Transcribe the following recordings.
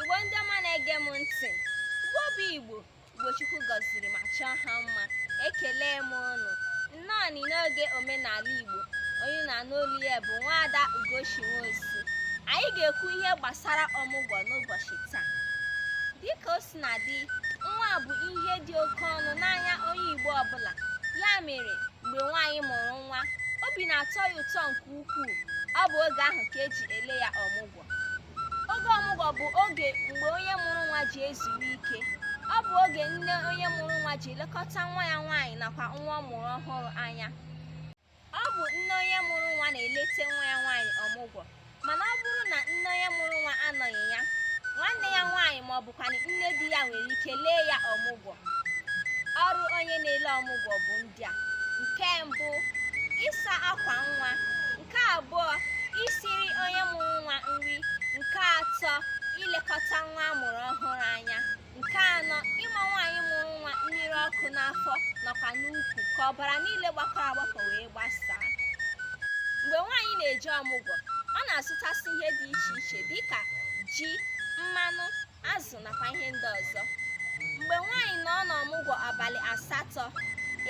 igbo ndị ọma na-ege m ntị igbo bụ igbo igbo chukwu gọziri ma chọọ ha mma ekele m ụnụ nnọọ ni n'oge omenala igbo onye na-anụ olu ya bụ nwaada ugochi nwosu anyị ga-ekwu ihe gbasara ọmụgwọ n'ụbọchị taa dịka o si na-adị nwa bụ ihe dị oke ọnụ n'anya onye igbo ọbụla ya mere mgbe nwaanyị mụrụ nwa obi na-atọ ya ụtọ nke ukwuu ọ bụ oge ahụ ka e ji ele ya ọmụgwọ Oge ọmụgwọ bụ oge mgbe onye mụrụ nwa ji ezuru ike. Ọ bụ oge nne onye mụrụ nwa ji elekọta nwa ya nwaanyị nakwa nwa ọ mụrụ ọhụrụ anya. Ọ bụ nne onye mụrụ nwa na-eleta nwa ya nwaanyị ọmụgwọ. Mana ọ bụrụ na nne onye mụrụ nwa anọghị ya, nwanne ya nwaanyị ma ọ bụkwanụ nne di ya nwere ike lee ya ọmụgwọ. Ọrụ onye na-ele ọmụgwọ bụ ndị a. Nke mbụ, ịsa akwa nwa. nke abụọ isiri onye mụrụ nwa nri nke atọ ilekọta nwa a mụrụ ọhụrụ anya nke anọ ịma nwaanyị mụrụ nwa mmiri ọkụ n'afọ nakwa n'ukwu ka ọbara niile gbakọrọ agbakọ wee gbasaa mgbe nwaanyị na-eje ọmụgwọ ọ na-azụtasị ihe dị iche iche dịka ji mmanụ azụ azụ nakwa ihe ndị ọzọ mgbe nwaanyị nọ n'ọmụgwọ abalị asatọ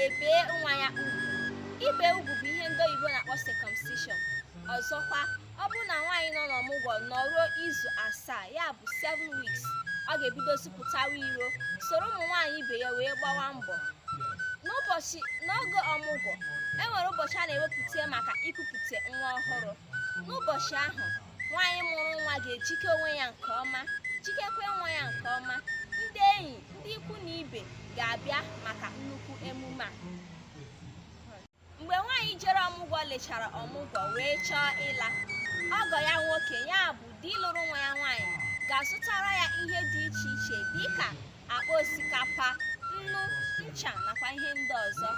e bee nwa ya ugwu ibe ugwu bụ ihe ndị oyibo na-akpọ circumcision ọzọkwa ọ bụrụ na nwaanyị nọ n'ọmụgwọ nọruo izu asaa ya bụ 7 weeks ọ ga-ebidozi pụtawa iro soro ụmụ nwaanyị ibe ya wee gbawa mbọ n'oge ọmụgwọ e nwere ụbọchị a na-ewepụta maka ikupụta nwa ọhụrụ n'ụbọchị ahụ nwaanyị mụrụ nwa ga-ejike onwe ya nke ọma jikekwa nwa ya nke ọma ndị enyi ndị ikwu na ibe ga-abịa maka nnukwu emume a mgbe nwaanyị jere ọmụgwọ lechara ọmụgwọ wee chọọ ịla ọgọ ya nwoke ya bụ di lụrụ nwa ya nwaanyị ga-azụtara ya ihe dị iche iche dịka akpa osikapa nnu ncha nakwa ihe ndị ọzọ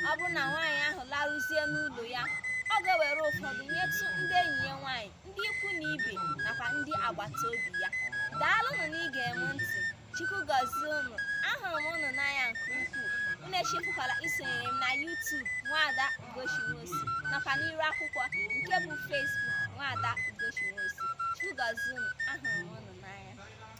ọ bụrụ na nwaanyị ahụ laruzie n'ụlọ ya ọ ga-ewere ụfọdụ nyetụ ndị enyi ya nwaanyị ndị ikwu na ibe nakwa ndị agbata obi ya daalụnụ n'ige m ntị chukwu gọzie unu ahụrụ m unu n'anya nke ukwuu unu echefukwala isonyere m na YouTube nwaada Ugochi Nwosu nakwa n'iru akwụkwọ nke bụ Facebook nwaada Ugochi Nwosu chukwu gọzie unu ahụrụ m unu n'anya